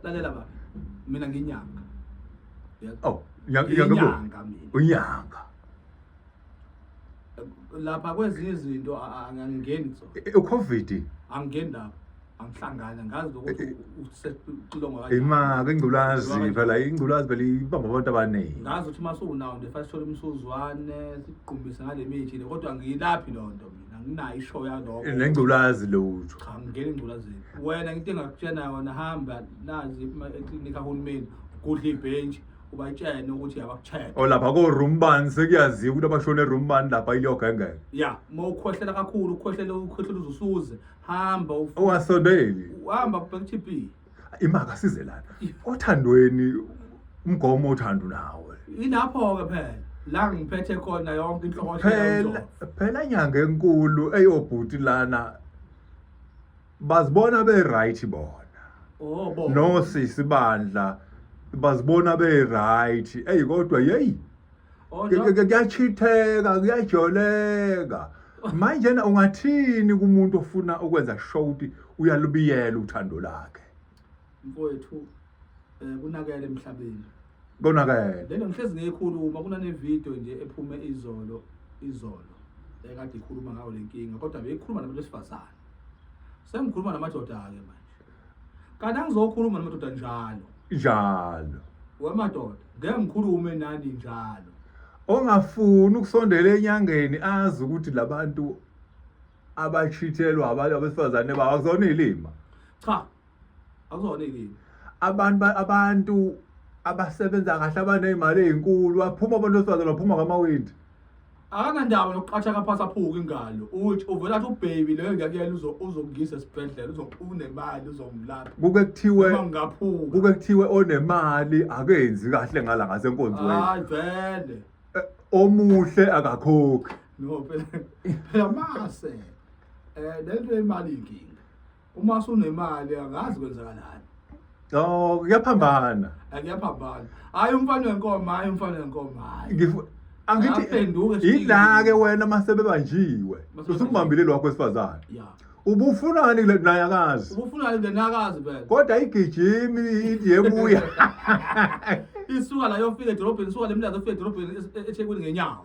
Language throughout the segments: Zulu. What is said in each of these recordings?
lalela baba mina nginyanga oh nginyanga mina unyanga lapha kwezinye izinto angangeni so e, e, ucovid angeni lapha angihlangana ngazi ukuthi usekulonga kanjani imake ingculazi phela ingculazi phela ibamba abantu abaningi ngazi ukuthi uma suwunawo nje fanele sithole umsuzwane siqumbise ngale mithi le kodwa ngiyilaphi loo nto anginayo ishow yaloko nengculazi lutho cha ngingena engculazini wena into engakutshena yona hamba nazi eklinikhi kahulumeni gudla ibhentshi ubatshene ukuthi yabakucheck o lapha ko-room bani sekuyaziwa ukuthi abashone room bani lapha iliyogengeka ya uma ukhohlela kakhulu ukhohlela ukhohlela uzusuze hamba owasondeli uhamba kubhekuthipi imaka size lana othandweni umgomo othandu nawe ilapho ke phela la ngiphethe khona yonke inhloko phela phela inyanga enkulu eyobhuti lana bazibona be right bona oh bo no sisi bandla bazibona be right eyi kodwa yeyi Oh, Ke- no. ke- ke- kuyachitheka kuyajoleka manjena ungathini kumuntu ofuna ukwenza show ukuthi uyalubiyela uthando lakhe mfowethu um kunakele emhlabeni konakele lento ngihlezi ngiyikhuluma kunanevidiyo nje ephume izolo izolo ekade ikhuluma ngayo le nkinga kodwa beyikhuluma nabantu besifazane sengikhuluma namadoda-ke manje kanti angizokhuluma namadoda njalo njalo wemadoda ngeke ngikhulume nani njalo ongafuni ukusondela enyangeni azi ukuthi labantu abachithelwa abantu abesifazane babo akuzona ilima cha akuzona ilima abantu abantu abasebenza kahle abanezimali ezinkulu baphuma abantu besifazane baphuma ngamawindi akanandaba nokuqatha kaphasa phuka ingalo uthi uvela athi ubaby leyo ngiyakuyela uzo- uzongiyisa esibhedlela uzo- unemali uzongilapha kuke kuthiwe uma ngingaphuka kuke kuthiwe onemali akenzi kahle ngala ngasenkonzweni hayi vele Eh, omuhle akakhokhi no phela phela mase um le nto yemali inkinga uma sunemali akazi kwenzakalani no kuyaphambana akuyaphambana hayi umfana wenkomo hayi umfana wenkomo hayi Ngifu- angithi Aphenduke sibili. yila-ke wena masebebanjiwe Masebebanjiwe. usukumbambile lwakho wesifazane ya ubufunani kule naye akazi ubufuna nje nakazi vele kodwa igijimi yebuya isuka la yofika edorobheni isuka lemlazi ofika edorobheni e- e- ethekwini ngenyawo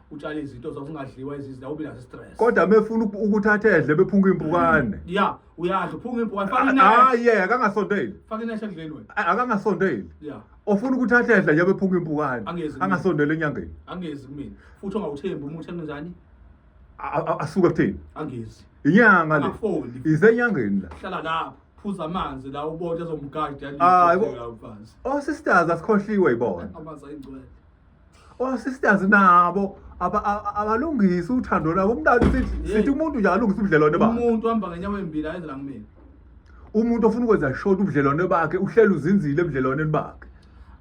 utshale izinto zazingadliwa izizila ube nazo stress kodwa mefuna uku- ukuthi athedle bephunga impukane ya uyadla uphunga impukane faka hayi ineshi yeka akangasondeli faka ineshi endleni wena A- akangasondeli ya ofuna ukuthi athedle nje bephunga impukane Angezi mina. angasondeli enyangeni angezi kumina futhi ongawuthembi umuthi emnjani A- a- asuke kuthini angezi inyanga le Angafoli. isenyangeni la hlala lapho phuza amanzi la ubona ezomgadi Hayi, bo- yalifazi osisters asikhohliwe yibona amanzi ayingcwele osisters nabo aba- a- a- abalungisi uthando lwabo umntana sithi Yey. sithi umuntu nje alungisa ubudlelwane bakhe umuntu uhamba ngenyawo embili ayenzela kumina umuntu ofuna ukwenza short ubudlelwane bakhe uhleli uzinzile ebudlelwaneni bakhe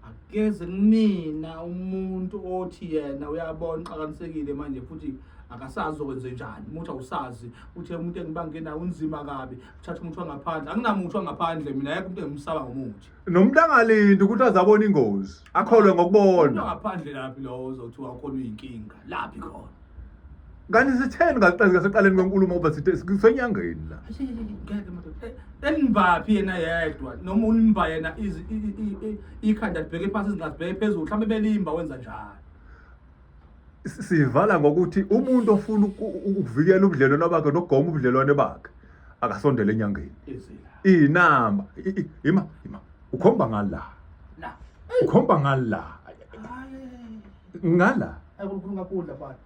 akeze kumina umuntu othi yena uyabona uxakanisekile manje futhi akasazi okwenze njani umuntu awusazi uthi umuntu engibangenayo unzima kabi uthatha umuntu wangaphandle anginamuthu wangaphandle mina yekho umuntu engimsaba ngomuthi nomuntu angalindi ukuthi azabona ingozi akholwe ngokubona ngaphandle laphi lowo ozothiwa ukhona uyinkinga laphi khona kanti sitheni ngaqalika seqaleni kwenkulumo ngoba sithe sisenyangeni la enibaphi yena yedwa noma unimba yena ikhanda libheke phansi izingazi bheke phezulu mhlawumbe belimba wenza njalo sivala ngokuthi umuntu ofuna ukuvikela ubudlelwano bakhe nokugoma ubudlelwane bakhe akasondele enyangeni inamba ima ima ukhomba ngala ukhomba ngala ngala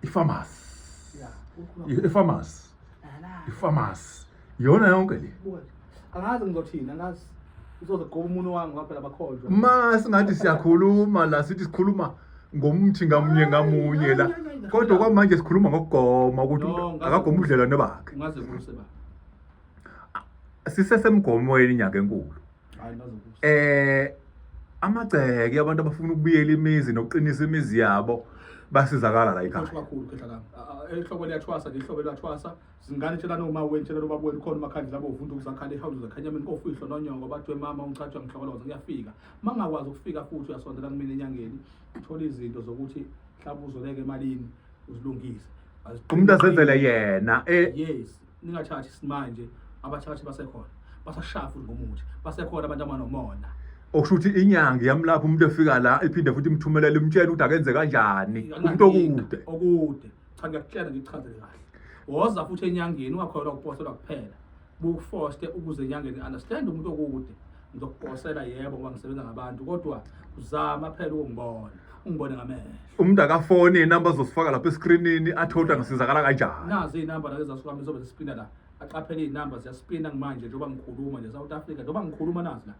ifamasi ifamasi ifamasi yona yonke le angazi ngizothini angazi uzoze qoba umuntu wami ngoba phela bakholwa ma singathi siyakhuluma la sithi sikhuluma ngomthi ngamunye ngamunye la kodwa kwamanje sikhuluma ngokugoma ukuthi akagoma ubudlelwane bakhe ungaze kuse ba sisesemgomweni inyanga enkulu Hayi nazo kusa. eh amagceke abantu abafuna ukubuyela imizi nokuqinisa imizi yabo basizakala la ekhaya kakhulu khehla lami A- a- ehlobo liyathwasa ngehlobo liyathwasa zingane tshela noma wenu tshela noma wenu khona umakhandlela bovunda ukuzakhala ehawuzi zakhanyameni kofihlo nonyoko bathiwe mama ungichatshwa ngihlokoloza ngiyafika ma ngingakwazi ukufika futhi uyasondela kumina enyangeni uthole izinto zokuthi mhlawumbe uzoleka emalini uzilungise umuntu azenzele yena eh yes ningathathi simanje abathathi basekhona basashaya futhi ngomuthi basekhona abantu abanomona okusho ukuthi inyanga iyamlapha umuntu efika la iphinde futhi imthumelele imtshela ukuthi akenze kanjani umuntu okude okude cha ngiyakutshela ngichazele kahle woza futhi enyangeni ungakholwa ukuposelwa kuphela bukufoste ukuze enyangeni understand umuntu okude ngizokuphosela yebo ngoba ngisebenza ngabantu kodwa uzama phela ukungibona ungibone ngamehlo umuntu akafoni inamba zosifaka lapha eskrinini athoda ngisizakala kanjani nazi inamba lake zasuka mizobe zisipina la aqaphele inamba ziyaspina manje njengoba ngikhuluma nje South Africa njengoba ngikhuluma nazi la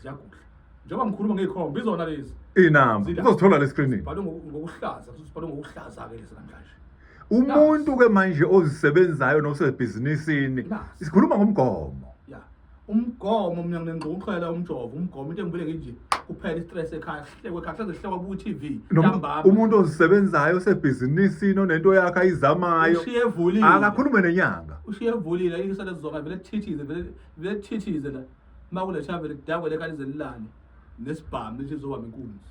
ziyagudla njengoba ngikhuluma ngeyikhomba izona lezi inamba uzozithola leskrinini bhalwe ngokuhlaza kusibhalwe ngokuhlaza ke lezi namhlanje umuntu ke manje ozisebenzayo nosebhizinisini sikhuluma ngomgomo umgomo mina nginengqokuxhela umjovo umgomo into engibule nginje kuphela istress ekhaya kuhlekwe kahle zehlekwa ku TV ntambama umuntu ozisebenzayo osebhizinisini onento yakhe ayizamayo ushiye evulile akakhulume nenyanga ushiye evulile isale zizonga vele thithize vele vele thithize la makule shavele kudakwe lekalize lilane nesibhamu lithi zoba inkunzi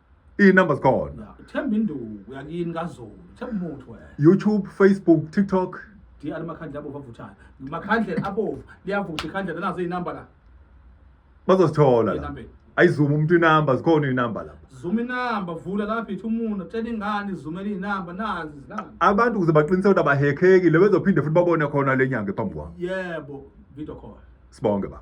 Iy'namba zikhona. Themba induku yakini kazulu. Themba umuthi wena. YouTube, Facebook, TikTok. Di alimakhandle abovu avuthayo. Makhandle abovu liyavutha ikhandle nazo iy'namba la. Bazosithola la. Ayizuma umuntu inamba zikhona inamba lapha. Zuma inamba vula lapha ithi umuntu tshela ingane izumela inamba nazi izilanga. Abantu kuze baqinise ukuthi abahekeki le bezophinde futhi babone khona lenyanga ephambi kwabo. Yebo, video call. Sibonge baba.